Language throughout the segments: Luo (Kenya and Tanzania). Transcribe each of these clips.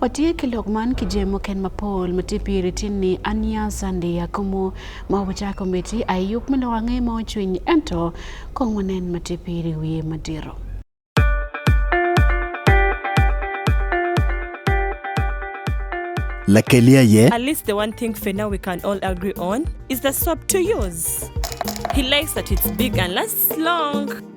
Watie ki lok man ki jemo ken mapol ma tye piri tin ni aniya sandi akomo ma obuca komiti aye yub me lok ange ma ocwiny ento kong wanen ma tye piri wiye madiro. Lakeli aye. At least the one thing for now we can all agree on is the soap to use. He likes that it's big and lasts long.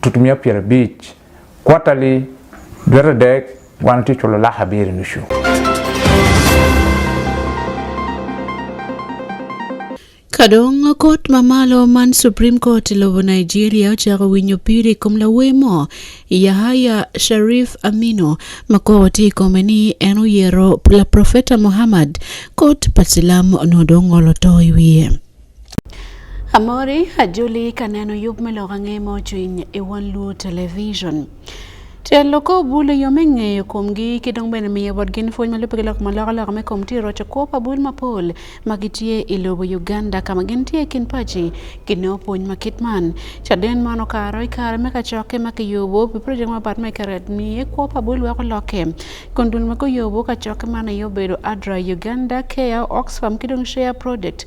tutumia piero abich quarterly dwe adek wan to ichulo lak abiriyo nusu. Kadong kot mamalo man Supreme Court lobo Nigeria ochako winyo piri kom lawemo Yahaya Sharif Aminu ma kot ikome ni en oyero la Profeta Muhammad kot pa silam nodong olo to i wiye. Amori ajuli kaneno yub miloko ang'e mochwiny e One Luo Television. Telo ko bule yo me ng'eyo komgi ki dong bene miyo bot gin pwony malupe ki lok maloko loko me kom tiro to kwo pa bul mapol ma gitye i lobo Uganda ka ma gin tye kin paci ki nongo pwony ma kit man. Caden man okaro i kare me kacokke ma kiyubo pi project mapat me keret miye kwo pa bul weko lokke kun dul ma guyubo kacokke man aye obedo ADRA Uganda Care Oxfam ki dong Share Project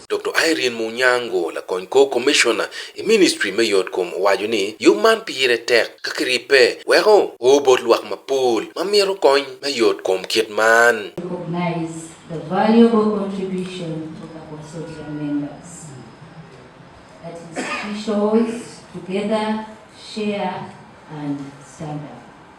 Dr. Irene Munyango lakony kor Commissioner i Ministry me yot kom owaco ni yub man pire tek ka kiripe weko o bot lwak mapol ma mito kony me yot kom kit man. recognize the valuable contribution of the consortium members that institutions together share and stand up.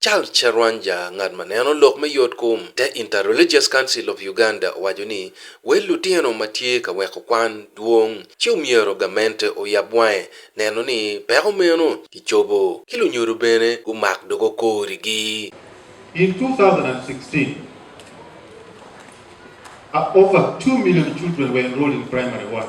Charles Charwanja, ngat ma neno lok me yotkom te Inter-Religious Council of Uganda owaco ni wel lutino ma tye ka weko kwan dwong ci omyero gamente oyab wange neno ni peko meno kicobo ki lunyodo bene gumak dogo korigi. In 2016, over two million children were enrolled in primary one.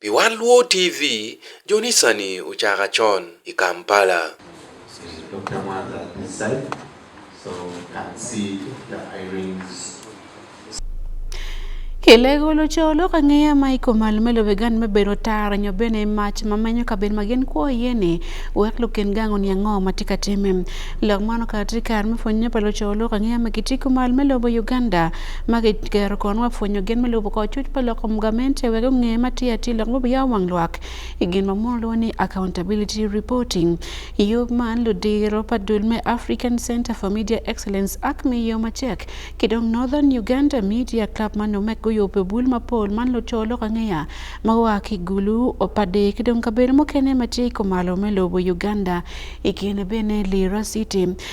Pi wat Luo TV, Jonisani ocaka con i Kampala. Kilego luco lok angeya ma ikomal me lobe gan me bedo tara nyo bene mac ma menyo kabedo ma gin kwo iye ni wek lukin gang oniang ngo ma tye ka time lok man okato tye kare me pwonye pa luco lok angeya ma kitye kumal me lobo Uganda ma kikero kun wapwonyo gin me lubo kor cuc pa lok kom gamente wek ongeye ma tye atir lok mobiya wang lwak i gin ma mono lwongo ni accountability reporting i yub man ludiro pa dul me African Center for Media Excellence ak me yo macek ki dong Northern Uganda Media Club ma numek guyubo bul mapol man luco lok angeya ma wa ki gulu opade ki dong kabedo mukene ma tye i kumalo me lobo Uganda i kine bene Lira City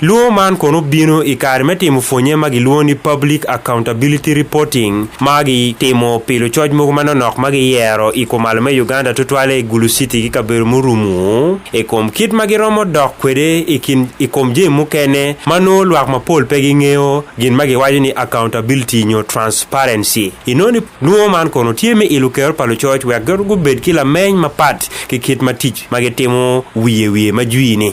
Luwo man kono bino i kare me timo pwonye ma giluwo ni Public Accountability Reporting ma gitimo pilo coc mogo manonok ma giyero i kom alo me Uganda tutwale i Gulu City ki kabedo murumu i kom kit ma giromo dok kwede i kin i kom jami mukene ma nongo lwak mapol pe gingeyo gin ma giwaco ni accountability nyo transparency. Inoni luwo man kono tye me ilo kero pa lucoc wek gibed ki lameny mapat ki kit ma tic ma gitimo wiye wiye ma jwini.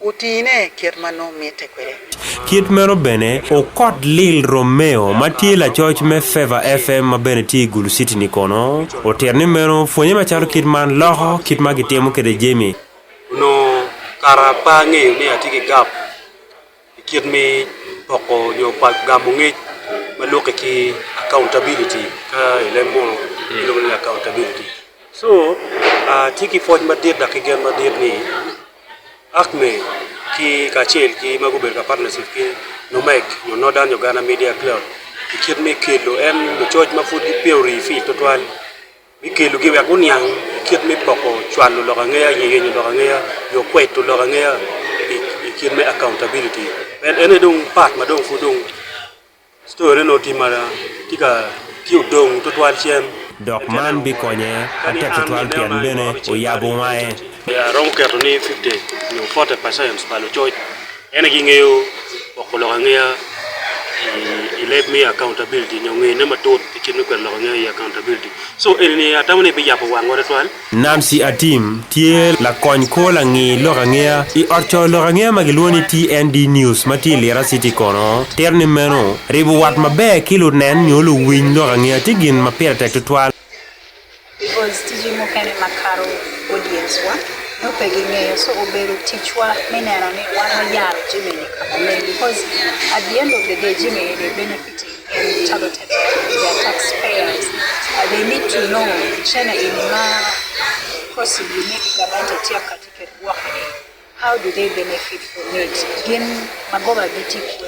Utine kit ma nongo mitte kwede. Kit meno bene, okot Lil Romeo ma tye lacoc me Favour FM ma bene tye i Gulu City-ni kono, otito ni meno pwonye macalo kit man loko kit ma gitimo kwede jami. Onongo kara pe angeyo ni atye ki gap i kit me poko nyo gamo ngec ma lwokke ki accountability, ka i leb munu gilwongo ni accountability. So, atye ki pwoc madit dok ki gen madit ni, ACME ki kacel ki ma gubedo ka partnership ki NOMEC nyo Northern Uganda Media Club i kit me kelo en lucoc ma pud gipe orii fic tutwal me kelogi wek guniang i kit me poko cwalo lok angeya nyo yenyo lok angeya nyo kweto lok angeya i kit me accountability en ene dong part ma dong pud dong Story no ti mara tika ti udong to twal chien. Dok man bikonye ate tutwal tyen bene oyabo wange. Aromo keto ni 50 nyo 40 percent pa lucoc en gingeyo woko lok angeya i leb me accountability nyo ngeyone matut ki cit me kweto lok angeya i accountability so eni ni atamo ni biyabo wangwa twatwal Nancy Atim tye lakony kor langi lok angeya i ot co lok angeya ma gilwongo ni TND News ma tye i Lira City kono tito ni meno ribo wat maber ki lunen nyo luwiny lok angeya tye gin ma pire tek tutwal. Because tiji mukene ma karo audience wa no pe gingeyo so obedo ticwa me neno ni wan wayaro jimini kama leng because at the end of the day jimini de benefiting How do they benefit from it? Gin magoba gi tipo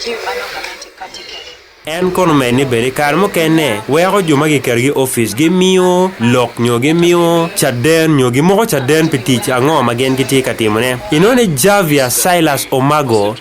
ji mano kama tikatike. en kono med ni bedi kare mukene weko jo ma giketo gi ofic gimiyo lok nyo gimiyo caden nyo gimoko caden pi tic ango ma gin gitye ka timone inone javier silas omago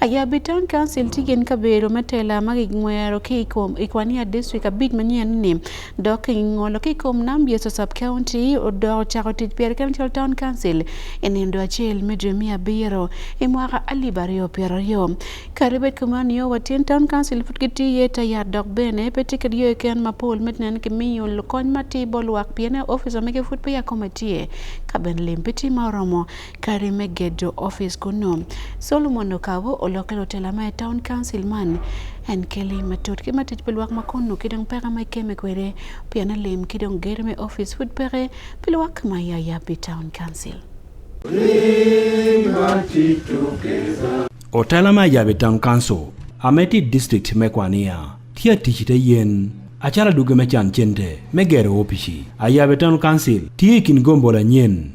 Ayab i Town Council tye gin kabedo me tela ma kingwero ki i kom i kwania district abic manyien-ni dok kingolo ki i kom nam Yecu sub county odok ocako tic pire kene calo Town Council i nindo acel me dwe me abiro i mwaka alip aryo pyero aryo. Kadi bed kuman nio wa tyen Town Council pud gitye iye ta yat dok bene pe tye kit yo keken mapol me nen kimiyo kony matir bot lwak pien officer mege pud peya kome tye ka bene lim pe tye ma oromo kare me gedo ofis kuno. Solomon okawo olokelo tela ma e town council man en keli matut ki matij pi lwak ma kunu ki dong peka ma ikeme kwede pien alim ki dong ger me ofis pud peke pi lwak ma yaya pi town council. Otela ma yaya pi town council ameti district me kwania tye atic ite yen acara duge me can cente me gero opici ayabe town council tye i kin gombo lanyen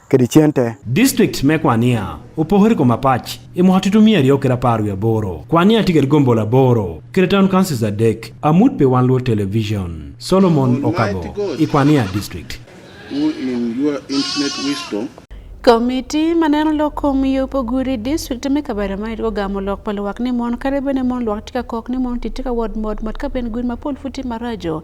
kedichiente. District me Kwania opogore kuom apach imo hatutumia ariyo kira apar wi aboro. Kwania tiger gombo laboro kira town councils adek amut pe wan luo television. Solomon Okabo i Kwania district. Who in your infinite wisdom Komiti ma neno loko miyo poguri district me kabera ma irgo gamo lok pa luwak ni mon kare bene mon luwak tika kok ni mon titika wod mod mod ka ben gun ma pol futi marajo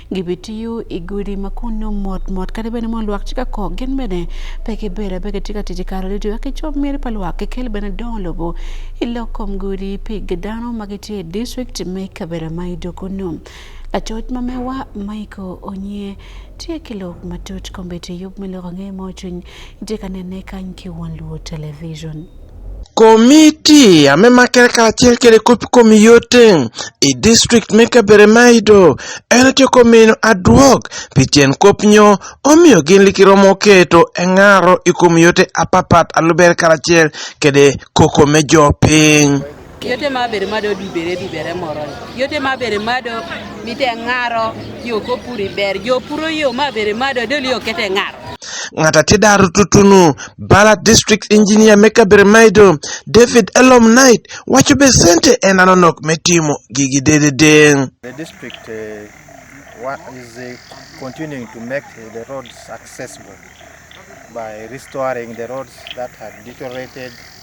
gibitiyo i gudi ma kun nongo mot mot kadi bene mono lwak ci ka kok gin bene pe kibedo pe kitye ka tic i kare ducu eka cob miti pa lwak kikel bene dongo lobo i lok kom gudi pi dano ma gitye i district me kabedo ma i doko num lacoc ma mewa maiko onye tye ki lok matut kombeddi yub me lok ange mo cwiny itye ka nene kany ki won luo television Komiti ya me makere kacel kede kop komiyote i district me kabedo ma ido en tye komino adwog pi cen kop nyo omiyo gin li kiromo keto engaro i komiyote apapat alubere karacel kede koko me jo piny. yote ma bere ma do dibere dibere moro yote ma bere ma do mite ngaro yo ko puri ber yo puro yo ma bere ma do deli okete ngaro ngata ti daru tutunu bala district engineer meka bere maido david elom knight wacho be sente en anonok me timo gigi dedede the district uh, what is uh, continuing to make uh, the roads accessible by restoring the roads that had deteriorated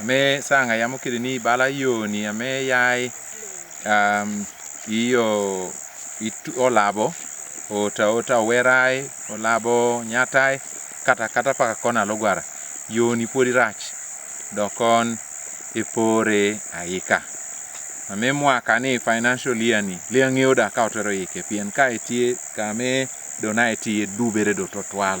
ame sanga ya mokede ni bala yoni ame yai um, iyo itu, olabo ota ota owerai olabo nyatai kata kata paka kona logwara yoni podi rach dokon ipore aika ame mwaka ni financial year ni le ang'eyo da ka otero ike pien ka etie kame dona etie dubere do totwal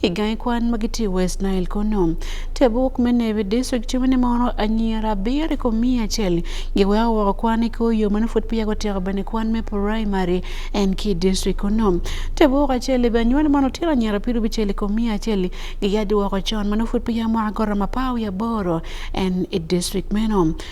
Igai kwan magiti West Nile kono. Tebuk me Navy District timo ni mono anyira abiri ko mia achiel giweo woko kwan i kor yo mano pud piya gotiko bene kwan me primary en ki district kono. Tebuk achiel ibe anywani mono tira anyira piru biceli ko mia achiel giyadi woko con mano pud piya mwaka goro mapawi aboro en i district meno.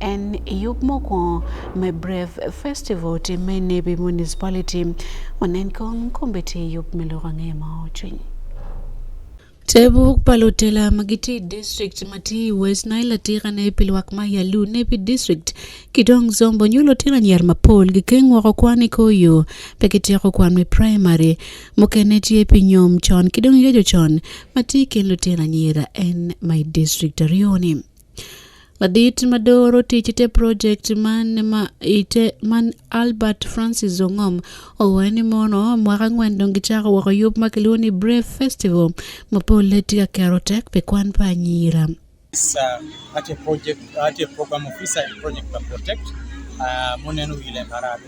En yub mokwongo me Brave Festival timme Nebi Municipality onen kong kombete yub miloro ng'e ma ochwiny. Tebu palotela magiti district mati West Nile tira ne pilwak ma yalu nebi district kidong zombo nyulo tira nyar mapol gi keng woro kwani koyo peke tieko kwan me primary mokene tie pinyom chon kidong yejo chon mati kendo tira nyira en my district arioni. Ladit madoro tich te project man ma ite man Albert Francis Zongom owacho ni mono mwaka ang'wen dong gichako woko yub ma kiluongo ni Brave Festival ma pole tye ka kero tek pi kwan pa anyira. It's uh, at a project, at a program officer in Project Protect, uh, Monenu Ile Marado.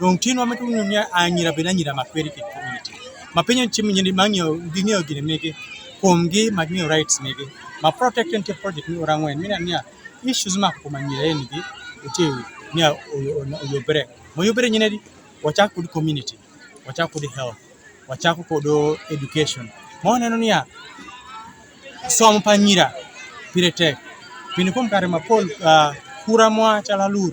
Dong tye nwa mito nyo niya anyira bene anyira ma kweri ki community. Ma penyo chi mi nyindi ma ngiyo gingiyo gini migi kumgi ma ngiyo rights migi. Ma protect and project ni orang wen mina niya issues ma kuma anyira en gi uti niya oyobere. Mo yobere nyine di wachak kod community, wachak kod health, wachak kod education. Mo neno niya somo pa anyira pire tek. Pini kum kare ma pol uh, kura mwa chala lur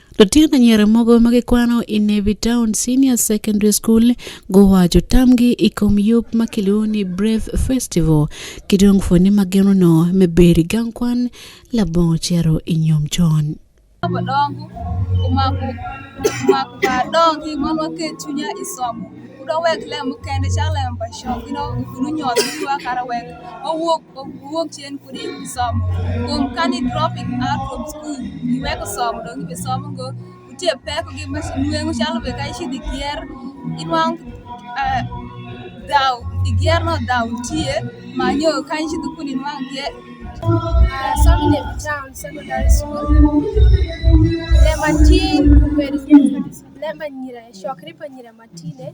Lutino anyira mogo ma gikwano i Navy Town Senior Secondary School guwaco tamgi i kom yub ma kilwongo ni Brave Festival ki dong pwonye ni ma ginono me bedo i gang kwan labongo cito i nyom con. Abadongo omako omako par dong ki ngom waket cwinya i somo. Wudong wek lem mukene cak lem pa cok, you know, wunu nyot, wunu wa kara wek wawok ok wuog chien podi somo kuom kani dropping out from school giweko somo dong ibe somo go nitie pek gi nweng'o chalo be ka ichidhi kier inwang' eh, dhaw igierno dhaw nitie manyo ka ichidhi kuno inwang' kier Uh, serving in town secondary school. Lematin, Lema Nyira, Shokripa Nyira Matine,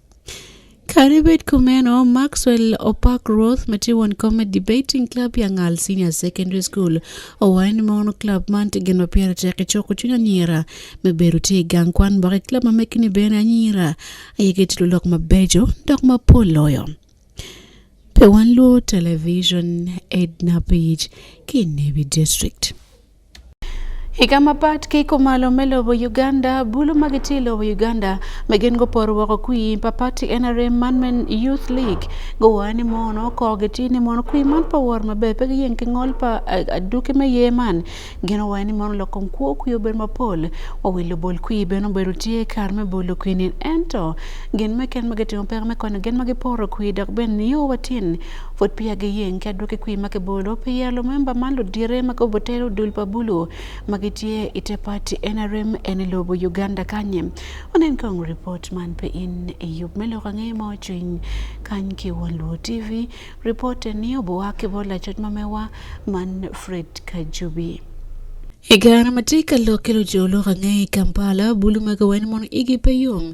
Karibet kumeno Maxwell Opak Roth matiwon Comet Debating Club ya Ngal Senior Secondary School owain mono club man tegen ma piyara tek choko chunya nyira me beru ti gang kwan baka club ma mekini bene anyira ayege tilo lok mabejo dok ma poloyo pe wan luo television Edna Page ki Nebi District Higa ma pat kiko malo me lobo Uganda, bulu ma giti lobo Uganda me gen go por woko kui pa pati NRM man men Youth League go wani mono ko giti ni mono kui man pa wor ma be pe gi yen ki ngol pa aduki me ye man gen wani mono lokon kuo kui obedo ma pol wa wi lobol kui beno bedo tiye kar me bolo kui ni ento gen me ken ma gitimo pek me konyo gen ma giporo kui dok ben niyo watin Fut pi agi yeng ki adwoki kwi ma kibolo pi ya lumemba man ludire ma kobo tero dul pa bulu ma gitye i te pati NRM en i lobo Uganda kanye onen kong ripot man pe in i yub me loko ange ma ocwiny kany ki won luo TV ripot ni obuwa ki bol lacoc ma mewa man Fred Kajubi. I kare ma tye ka lok ki luco lok ange i Kampala, bulu ma kiweno mono igi pe yom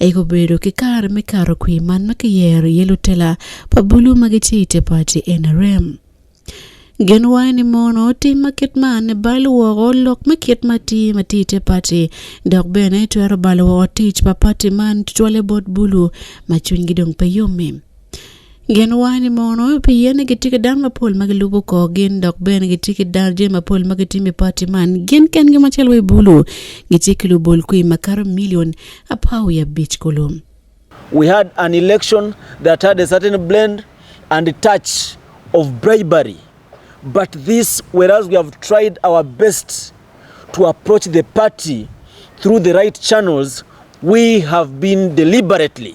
Aye obedo ki kare me kato kwi man ma kiyero iye lutela pa bulu ma gitye i te pati NRM. Gin waye ni mono otim ma kit man ni balo woko lok me kit ma ti ma ti i te pati dok bene twero balo woko tic pa pati man tutwalle bot bulu ma cwinygi dong pe yommi. Gin wani mono piye ni gitye ki dano mapol ma gilubo kor gin dok bene gitye ki dano jami mapol ma gitimo i pati man gin kengi macalo wa i bulu gitye ki lubol kwi makato milion apar wiye abic kulu we had an election that had a certain blend and touch of bribery but this whereas we have tried our best to approach the party through the right channels we have been deliberately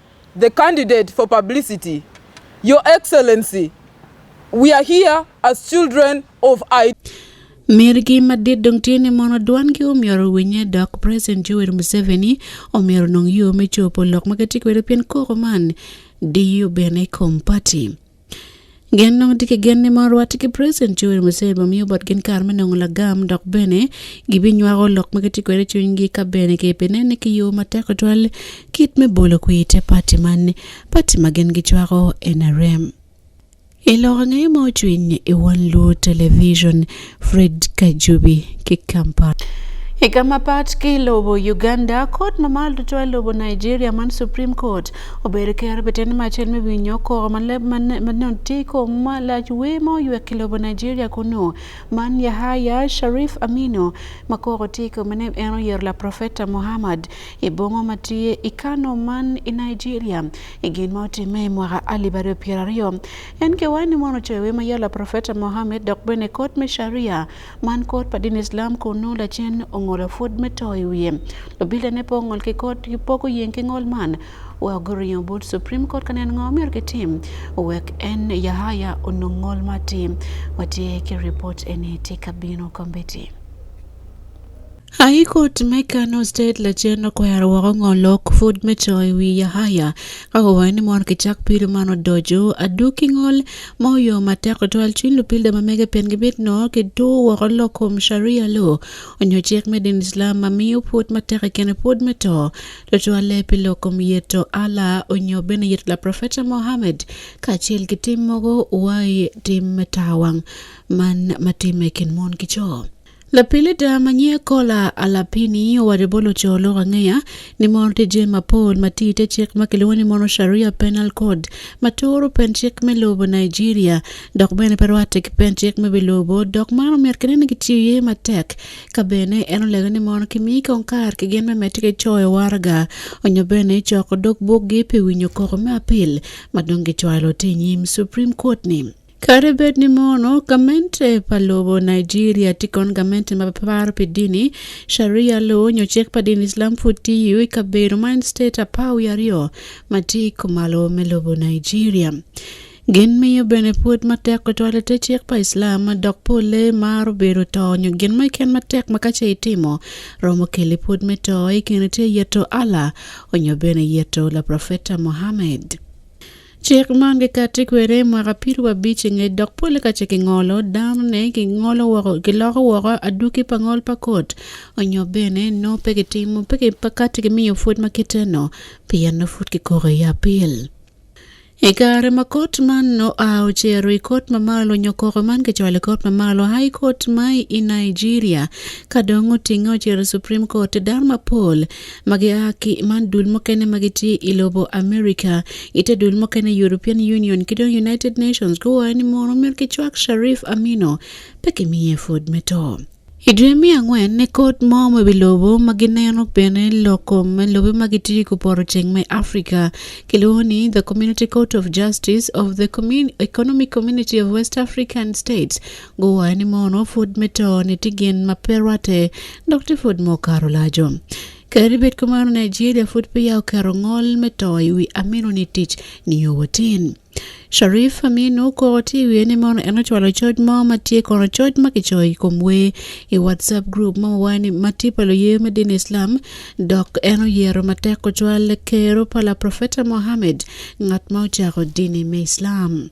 The candidate for publicity, Your Excellency, we are here as children of I. Mirgi madit dong tye ni mono dwangi omyero winye dok President Yoweri Museveni omyero nong yo me copo lok ma gitye kwede pien koko man diyo bene i kom pati. Gen nongo tye ki gen ni mon rwate ki President Yoweri Museveni bimiyo botgin kare me nongo lagam dok bene gibinywako lok ma gitye kwede i cwinygi ka bene gibinene ki yo matek tutwal kit me bolo kwir te pati man pati ma gin gicwako NRM. I lok angeye ma ocwiny i Wan Luo Television, Fred Kajubi ki Kampala. Higa ma pat ki lobo Uganda, kot ma malo duto e lobo Nigeria man Supreme Court obedo ker beten macen me winyo koko manotiko malac we ma oywek ki lobo Nigeria kunu man Yahaya Sharif Aminu ma koko tiko mene en oyero la Profeta Muhammad i bongo ma tye i Kano man i Nigeria i gin ma otimme i mwaka alip aryo pyera aryo En kewani mono coyo wema yala Profeta Mohammed dok bene kot me Sharia man kot pa din Islam kun nongo lacen ongolo pud me to i wiye. Lubila ne po ongol ki kot ki poko yeng ki ngol man wa guringo but Supreme Court ka neno ngo myero gitim wek en Yahaya onong ngol ma tim. Watye ki report eni tye ka bino kombeddi. High Court me Kano State lacen okwero woko ngo lok fud me co i wi Yahaya ka owayo ni mon kicak pilo man odoco aduki ngol ma oyo matek twal cwiny lupilda ma mege pien gibit no ki tu woko lok kom sharia lo onyo cik me din Islam ma miyo pud matek i kene pud me to tutwalle pi lok kom yeto Allah onyo bene yeto la Profeta Mohammed kacel ki tim mogo wai tim me tawang man matime kin mon ki co. Lapili da manye kola alapini oware bolo cholo wang'eya ni mon tije mapol matite chik ma kiluwo ni mono sharia penal code matoro pen chik me lobo Nigeria dok bene pe rwate ki pen chik me bilobo dok man omiyo kene ni kitiyo ye matek ka bene en olego ni mon kimi kong kar ki gen me mete ki coyo warga onyo bene coko dog bukgi pi winyo koko me apil ma dong gicwalo ti nyim Supreme Court ni. Kare bed ni mono gamente pa lobo Nigeria tye kon gamente ma paro pi dini Sharia law nyo cik pa dini Islam pud tiyo i kabedo ma en state apar wiye aryo ma tye i kumalo me lobo Nigeria. Gin miyo bene pud matek tutwale te cik pa Islam ma dok polle maro bedo to nyo gin mo iken matek ma kace itimo romo keli pud me to i kine tye yeto Allah onyo bene yeto la profeta Muhammad. Cik man kikati kwede i mwaka pido abic inge dok pole ka ce kingolo dano ne kingolo woko kiloko woko aduki pa ngol pa kot onyo bene no pe kitimo pe kati kimiyo pwod ma kiteno pien no pud kikoko i apil. I kare ma kot man no a ocero i kot mamalo nyo koko man kicwalo i kot mamalo high court ma i Nigeria ka dong otinge ocero i Supreme Court dano mapol ma gia ki man dul mukene ma gitye i lobo America ite dul mukene European Union ki dong United Nations guwayo ni mono myero kicwak Sharif Amino pe kimiye pwod me to. I dwe me angwen ne kot mo ma bilobo ma gineno bene loko ma lobe ma gitye ku poto ceng me Africa kilwongo ni The Community Court of Justice of the Commun Economic Community of West African States Guwayo ni mono fud mito ni tigen maperwate dok ti fud mokaro lajo. Kari bet kumano Nigeria fud piya okaro ngol mito iwi amino ni tich ni yowotin. Sharif Aminu ko ti wiye ni mono eno chwalo choj mo matie kono choj makichoyi kom we i WhatsApp group ma wani mati palo ye me din Islam dok eno yero matek ko chwal kero pala Profeta Mohammed ngat ma ochako dini me Islam.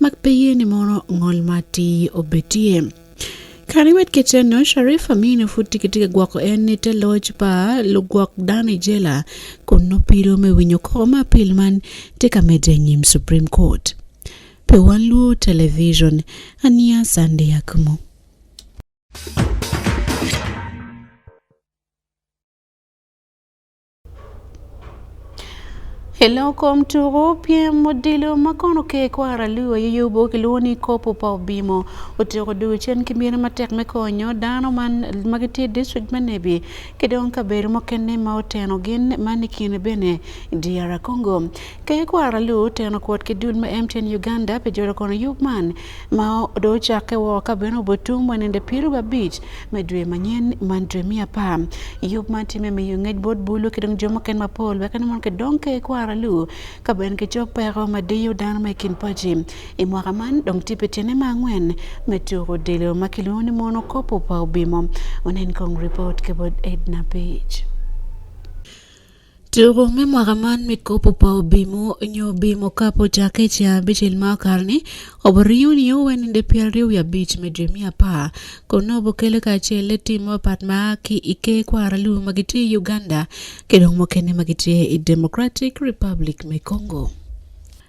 mak pe yie ni mono ngol ma ti obetie Kani wet keceno Sharif Aminu pud tye kitye ka gwoko en ni te loc pa lugwok dano i jela kun nopiro me winyo koko ma apil man tye ka medde anyim Supreme Court. Pe wan luo television aniya Sunday Akumu. I lok kom tuku pyem odilo ma kono ke kwara luo i yubo kilwongo ni kopo pa obimo otiko dugo cen ki mine matek me konyo dano man ma gitye district me Nebi ki dong kabedo mukene ma oteno gin man i kine bene DR Congo. Ke kwara luo oteno kwot ki dul ma MTN Uganda pi jolo kono yub man ma do ochake wo ka beno obotum wanende piru babich me dwe manyen man dwe mia pa yub man time me yungej bot bulu kidong jomo ken mapol weka ni mon ke dong ke kwara lu ka ben ke chok peko ma diyo dan me kin paji i mwaka man dong tipe tiene ma ngwen me tuko dilo ma kilu ni mon okopo pa obimo onen kong report ke bot edna page Tugo me mwaka man me kopo pa obimo nyo obimo kapo cake ca bicel ma okato ni obiriyo ni oweninde pi aryo wiye abic me dwe miya apar kun nongo bukele kacel le tim mapat ma ki i ker kwara lubo ma gitye i Uganda ki dong mukene ma gitye i Democratic Republic me Congo.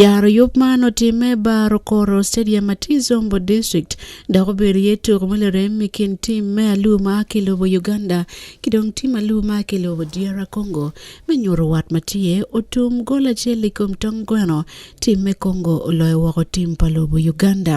Yaro yub man otime baro koro stadium Matizombo district dok obedo ye tuko ma lirem i kin tim me alu ma ki lobo Uganda ki dong tim alu ma ki lobo DR Congo me nyuto wat ma tye otum gol acel i kom tong gweno tim me Congo oloyo woko tim pa lobo Uganda.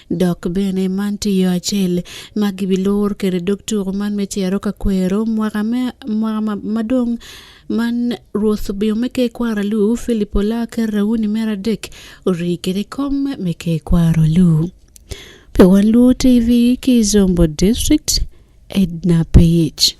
dok bene man tye yo acel ma gibilor kede dog tuko man me cero ka kwero mwaka madong man rwoth obiyo me ke kwara lu filipo la ker rauni mera dek ori kede kom me ke kwaro lu pe wan lu tv ki zombo district edna page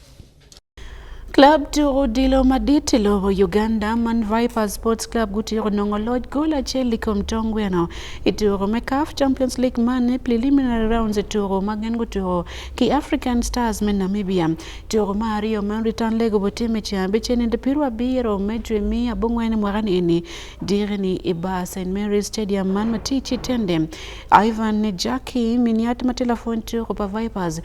Club to odilo madit e lobo Uganda man Vipers Sports Club gutieko nongo loch gol achiel likom tong gweno e tugo me CAF Champions League man e preliminary rounds e tugo ma gin gutugo ki African Stars me Namibia. Tugo ma aryo ma return leg obotim e cen abic en inde piru abiro me dwe me abongwen mwakani eni direni i bar St Mary Stadium man matici tende Ivan Jackie miniat ma telefon tugo pa Vipers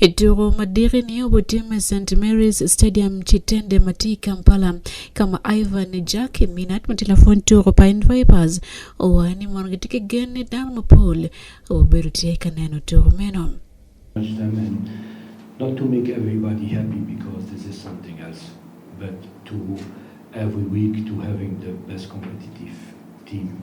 E tugo madiri ni obotim e St Mary's Stadium Chitende Mati Kampala kama Ivan Jackie Minat matilafon tugo Pine Vipers owani mondo gitike gen ni Dan Mapol obedo tie ka neno tugo meno. Not to make everybody happy because this is something else, but to every week to having the best competitive team.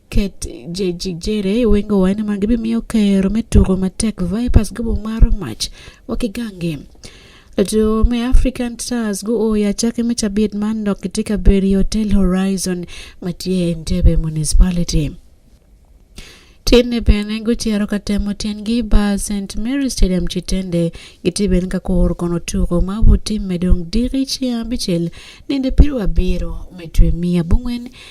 Ket jejijere wengo wine man gibi miyo kero me tugo matek Vipers gobo mar mach wakigange to me African Stars go oya chake me chabit man dok kitika beri Hotel Horizon matie Entebbe Municipality tinde bene guchero ka temo tiengi ba St Mary Stadium chitende giti bene ka kor kono tuko ma buti medong diri chia bichel nende piru abiro metwe mia bungwen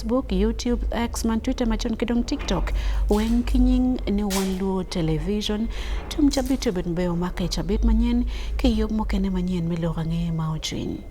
Facebook, YouTube, X, man Twitter machon kidong TikTok. Wen kinying ni wan luo television. Tum chabit obet mbeo maka chabit manyen ke yob mokene manyen miluwa ng'e ma ochwiny.